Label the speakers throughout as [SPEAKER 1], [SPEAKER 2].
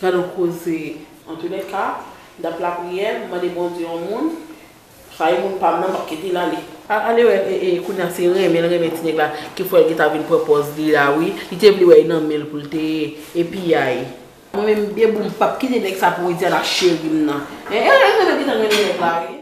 [SPEAKER 1] Gad on koze Antounèka dat lapriyè m mande Bondye on moun rayi moun pam nan map kitel ale. Al ale wè ee kounya se renmen l renmen ti nèg la ki fè l gentan vin pran pòz li la wi li te vle wè e nan men l pou l te ye e piyay. Mwen menm bebou m pap kite nèg sa pou Widiana cherim nan ee mwen menm gentan renmen nèg la wi.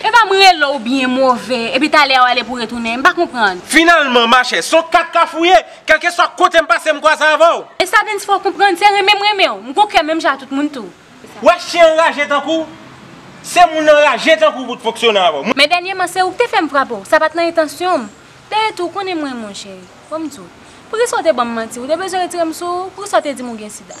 [SPEAKER 2] Epa m rele w byen move epi talè a w ale pou retounen? M pa konprann. Finalman machè, s
[SPEAKER 3] on kat ka fouye! Kèlkeswa kote m pase m kwaze avè w. Estadens fè w konprann
[SPEAKER 2] se renmen m renmen w. M gon kè menm jan a tout moun tou. W wè chyen anraje
[SPEAKER 3] tankou w? Se moun anraje tankou w pou t fonksyone avè w. Men dènyeman se ou k te
[SPEAKER 2] fè m frape w. Sa pa t nan entansyon m. Dayè tou, w konnen mwen monchè. Bon m di w. Poukisa w te ban m manti? W te bezwen retire m sou ou? Poukisa w te di m ou gen sida?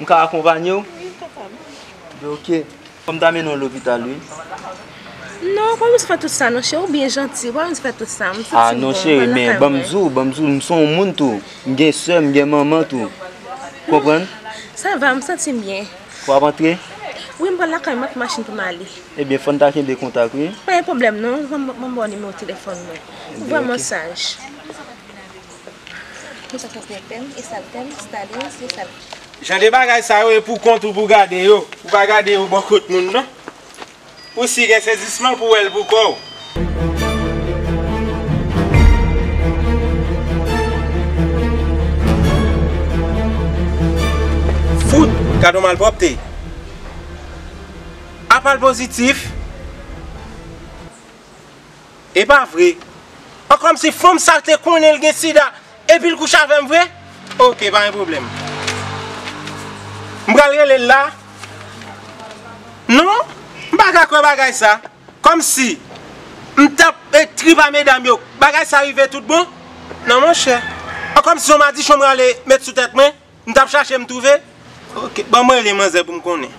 [SPEAKER 4] M ka akonpanye w? Wi papa
[SPEAKER 5] m. Bon
[SPEAKER 4] ok. Fò m ta mennen w lopital
[SPEAKER 5] wi. Non, ou pa bezwen fè tout sa non cheri. Ou byen janti, ou pa bezwen fè tout sa. M santi m bon. A non cheri,
[SPEAKER 4] men ban m di w, ban m di w, m se yon moun tou. M gen sè, m gen manman tou. Ou konprann? Sa va,
[SPEAKER 5] m santi m byen. Ou ap antre?
[SPEAKER 4] Wi, m pral lakay,
[SPEAKER 5] m ak machin pou m ale. Ebyen fò n ta kenbe
[SPEAKER 4] kontak wi. Pa gen pwoblèm non.
[SPEAKER 5] Ban m ba w nimewo telefòn mwen. Ou vrèman saj.
[SPEAKER 3] Jan de bagay sa yo e pou kont ou pou gade yo, ou pa gade yo bò kot moun non. Ou si gen sezisman pou wè l pou kò w. Fout! Gad yon malpwòpte! Apa l pozitif? Epa vre? An kòmsi fanm sa te konnen l gen sida epil kouche avèm vre? Ok pa gen pwoblèm. M pral rele l la. Non, m pa ka kwè bagay sa. Kòmsi m tap ekri ba medam yo bagay sa rive tout bon? Non monchè. An kòmsi son madichon m rale met sou tèt mwen? M tap chache m twouve. Ok ban mwen rele manzè pou m konnen.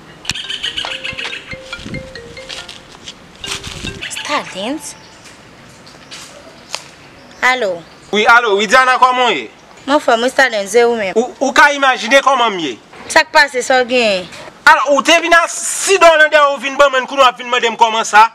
[SPEAKER 6] Stadens? Alo? Wi alo
[SPEAKER 3] Widiana kòman w ye? M anfòm wi Stadens
[SPEAKER 6] e ou menm? Ou ka imajine
[SPEAKER 3] kòman m ye. Sa k pase sa w
[SPEAKER 6] genyen? Alo ou te vin
[SPEAKER 3] ak sidon lan dèyè w ou vin ban mwen n kounye w ap vin mande m kòman sa?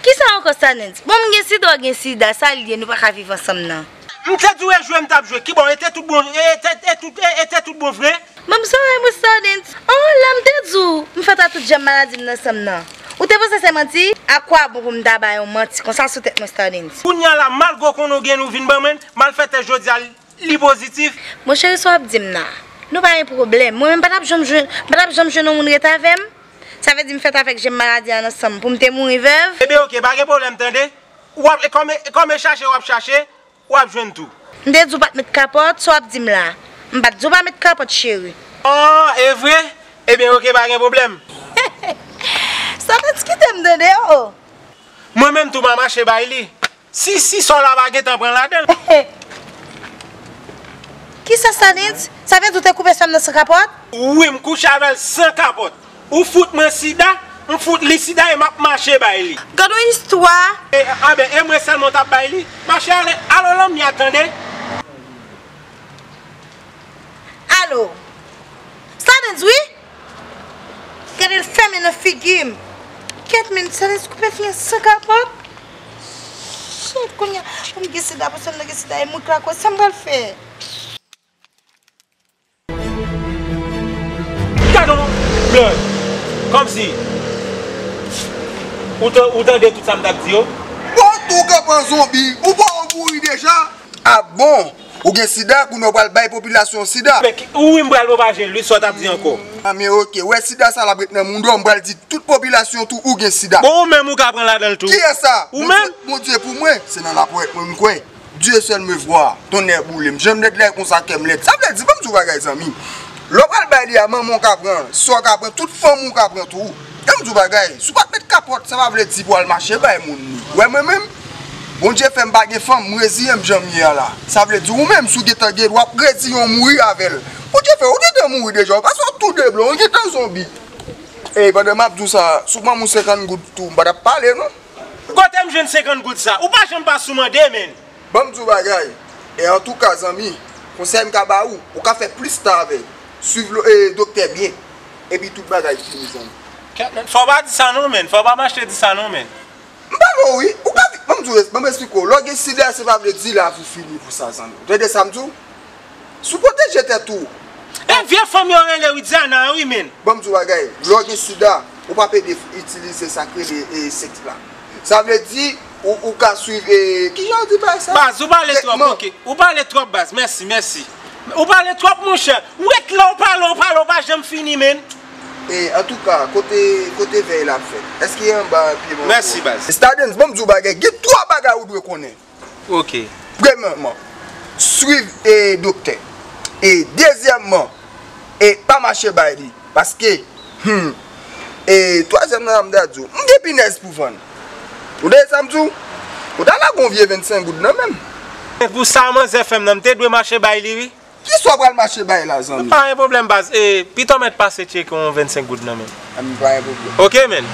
[SPEAKER 3] Kisa
[SPEAKER 6] ankò Sanens? Bon m gen sida w gen sida sa l ye nou pa ka viv ansanm nan? M te di w e jwe
[SPEAKER 3] m t ap jwe kibò e te tout bon e e te tout bon vre? Bon m sore m
[SPEAKER 6] Sanens. An la m te di w m fèt a tout janm maladi m nan sanm nan ou te panse se manti? A kwa bon pou m ta bay yon manti konsa sou tèt mwen Sanens? Kounya la malgre w
[SPEAKER 3] konnen w gen ou vin ban mwen malfète jodi a Li pozitif. Mon cheri sa wap dim
[SPEAKER 6] nan. Nou pa gen pwoblèm. Mwen menm patap janm jwenn, patap janm jwenn yon moun ret avèm. Sa vle di m fèt avèk jèm maladi an nan sanm poum te mouri vèv. Ebyen ok pa gen pwoblèm
[SPEAKER 3] tande. Wap e kòm e kòm e chache wap chache wap jwenn tou. M te di w pat met
[SPEAKER 6] kapòt, sa wap dim la. M pat di w pa met kapòt cheri. Aww evre?
[SPEAKER 3] Ebyen ok pa gen pwoblèm.
[SPEAKER 6] Sa pa diskitem tande oh. Mwen menm
[SPEAKER 3] tou ma mache bay li. Si si sa w la pa gentan pran ladan l. He
[SPEAKER 6] Kisa sa Nitz? Sa vle di ou te koupe sa m nan san kapòt? Wi m kouche avè
[SPEAKER 3] l san kapòt. Ou fout mwen sida, m fout li sida e m ap mache bay li. Gad on istwa!
[SPEAKER 6] Anben e mwen
[SPEAKER 3] sèlman w t ap bay li? Mache ale, alo Lamia tande!
[SPEAKER 6] Alo! Sa Nitz wi? Gadel fèmen nan figim. Kèt menn sa lèz koupe fia san kapòt shit kounya poum gen sida pou sèm nan gen sida e mwen krakoz sam pral fè.
[SPEAKER 3] Gadon blòd kòmsi ou tande tout sam tap di yo. Bon tou kap
[SPEAKER 7] pran zonbi ou pa ou mouri deja. Ah bon Ou gen sida kounye w pral bay popilasyon w sida. Wi m pral pwopaje
[SPEAKER 3] l wi sa w tap di ankò. Men ok wè
[SPEAKER 7] sida sa lap ret nan moun dò m pral di tout popilasyon tou ou gen sida. Bon ou menm ou ka pran ladan
[SPEAKER 3] l tou. Kiyès sa? Ou
[SPEAKER 7] menm? Bondye pou
[SPEAKER 3] mwen se
[SPEAKER 7] nan lapwèt mwen m kwè Dieu seul me voir tonnè boule m janm lèd lèd konsa kèm lèd sa vle di banm di w bagay zanmi m lè w pral bay li a manman w ka pran sa w ka pran tout fanmi w ka pran tou. Tan m di w bagay, si w pa t met kapòt sa pa vle di pou w al mache bay moun li. Ou wè mwen menm, Bondye fè m pa gen fanm, m reziyen m jan m ye a la. Sa vle di ou menm si w gen tan gen dwa pou w reziyen w mouri avè l. Bondye fè w, ou gen tan mouri deja, ou pa se yon tou de blan, ou gen tan zonbi. Ey pandan m ap di w sa, si w ban m yon 50 goud tou, m pa t ap pale non. Kote m
[SPEAKER 3] jwenn 50 goud sa? Ou pa janm pa sou mande men. Banm diw bagay
[SPEAKER 7] e antouka zanmi konsèy m ka ba ou, ou ka fè plis tan avè swiv doktè byen epi tout bagay fini zanmi. Ket menn, fòw pa di
[SPEAKER 3] sa non menn, fòw pa mache di sa non menn. M pa wè w wi,
[SPEAKER 7] ou ka viv, banm esplike w, lè w gen sida se pa vle di lavi fini pou sa zanmi, ou tande sa m di w? Sou pwoteje tèt ou. E vye fanm
[SPEAKER 3] yo rele Widiana an wi menn. Banm di w bagay, lè
[SPEAKER 7] w gen sida, ou pa pede itilize sa k rele sèks la. Sa vle di, ou ka swiv e, kijan yo di bagay sa? Baz, ou pale twòp ok.
[SPEAKER 3] Ou pale twòp baz, mèsi, mèsi. Ou pale twòp monchè. Wet la ou pale, ou pale, ou pa janm fini menn. E, antouka,
[SPEAKER 7] kote, kote vèy la ap fèt? Èske anba pye mango a? Mèsi baz. Stadens,
[SPEAKER 3] banm di w bagay,
[SPEAKER 7] gen 3 bagay ou dwe konnen. ok.
[SPEAKER 3] Premyeman,
[SPEAKER 7] swiv doktè e dezyèman e pa mache bay li paske humm e twazyèm nan mta diw m gen pinèz pou vann ou tande sam diw ou ta lage yon vye 25 goud nan menm. Men pou sa manzè fèm
[SPEAKER 3] nan m te dwe mache bay li wi. Kisa w pral mache
[SPEAKER 7] bay la zanmi. Pa gen pwoblèm baz e
[SPEAKER 3] pito mèt pase tcheke yon 25 goud nan
[SPEAKER 7] menm.
[SPEAKER 3] An pa gen pwoblèm.
[SPEAKER 7] Ok menn.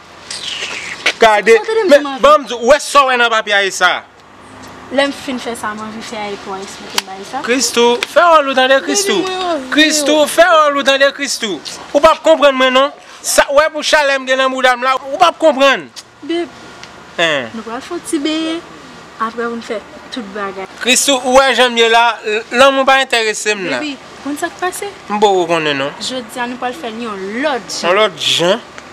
[SPEAKER 3] Gade, men, banm di w, ou wè sa w wè nan papye a e sa a? Lè m
[SPEAKER 1] fin fè sa m anvi fè a epi w a esplike bay sa? Christoo, fè wòl ou
[SPEAKER 3] tande Christoo. Baby mwen anvi w. Christoo, fè wòl ou tande Christoo. Ou pap konprann mwen non. Sa w wè pou chalè m gen nan bouda m la, ou pap konprann. Babe,
[SPEAKER 1] Hein. nou pral fè yon ti benyen, aprè pou n fè tout bagay. Christoo, ou wè jan m
[SPEAKER 3] ye la, lanmou pa enterese m la. Baby, ou konn sa k pase?
[SPEAKER 1] M poko konnen non.
[SPEAKER 3] Jodi a nou pral fè l
[SPEAKER 1] yon lòt jan. Yon lòt jan?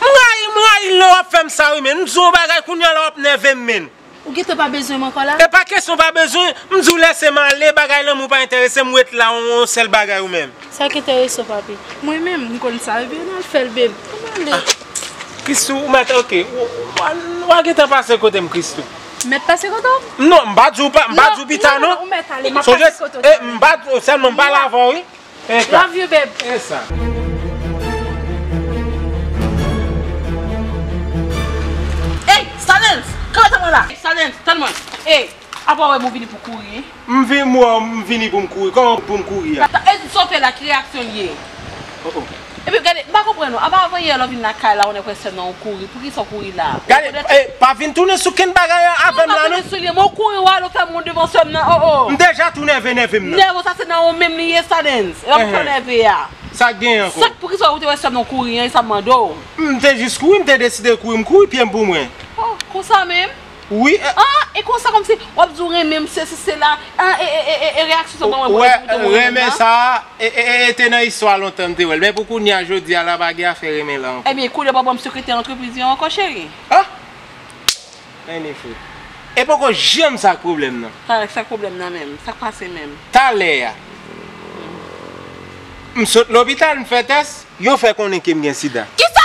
[SPEAKER 3] M rayi m rayi l lè wap fèm sa wi menn m di w yon bagay kounya la wap nève m menn. Ou gentan pa bezwen
[SPEAKER 1] m ankò la? Epa kesyon pa bezwen,
[SPEAKER 3] m di w lèse m ale bagay lanmou pa entèrese m ret la yon sèl bagay ou menm. Sak entèrese w papi?
[SPEAKER 1] Mwen menm m konn sa wi baby an al fè l babe an ale. Christoo ou mèt
[SPEAKER 3] ok wa gentan pase kote m Christoo. M mèt pase kote
[SPEAKER 1] w? Non m pa di w pa
[SPEAKER 3] m pa di w pita non. Sonje
[SPEAKER 1] m pa sèlman m
[SPEAKER 3] pale avè w wi. Love you beb.
[SPEAKER 1] Ey Stadens kanpe tann mwen la. Stadens tann mwen ey apa wè m ou vini pou kouri. M
[SPEAKER 3] vini pou m kouri kòman pou m kouri a. Stadens sòl fè la ki
[SPEAKER 1] reyaksyon l ye. Oh oh. Epi gade, m pa konprann ou. Apa avanyè lè w vin lakay la ou nèk wè sèm nan ou kouri. Poukisa w kouri la? Ou Gade, rekonèt? eh, pa vin
[SPEAKER 3] tounen sou kenn bagay an Non, avè m pa la non. tounen sou li an, men ou kouri ou al ou fè
[SPEAKER 1] moun devan sèm nan, oh oh. M deja tou nève nève
[SPEAKER 3] m nan. Nève w sa se nan ou menm
[SPEAKER 1] li ye sa Dens. E lè m fè w Enhen. nève a? Sa k genyen ankò? Sa k
[SPEAKER 3] poukisa ou te wè sèm nan
[SPEAKER 1] ou kouri an e sa m mande w? M te jis kouri, m
[SPEAKER 3] te deside kouri, m kouri pye m pou mwen. Oh, konsa menm?
[SPEAKER 1] wi e. Ah
[SPEAKER 3] e konsa
[SPEAKER 1] kòmsi wap di ou renmen m sesi sela ah e e e e reyaksyon sa banm wè ou te konn renmen m nan. Renmen sa
[SPEAKER 3] e e e te nan istwa lontan m te wèl men pou kounya jodia la pa gen afè renmen lan ankò. Ebyen koulye pa banm sekretè
[SPEAKER 1] antrepriz yo ankò cheri. Ah
[SPEAKER 3] Any fout e poko janm sak pwoblèm nan. Talè sak pwoblèm nan menm
[SPEAKER 1] sak pase menm. Talè a
[SPEAKER 3] m sot lopital
[SPEAKER 1] m
[SPEAKER 3] fè tès yo fè konnen kem gen sida. Kisa!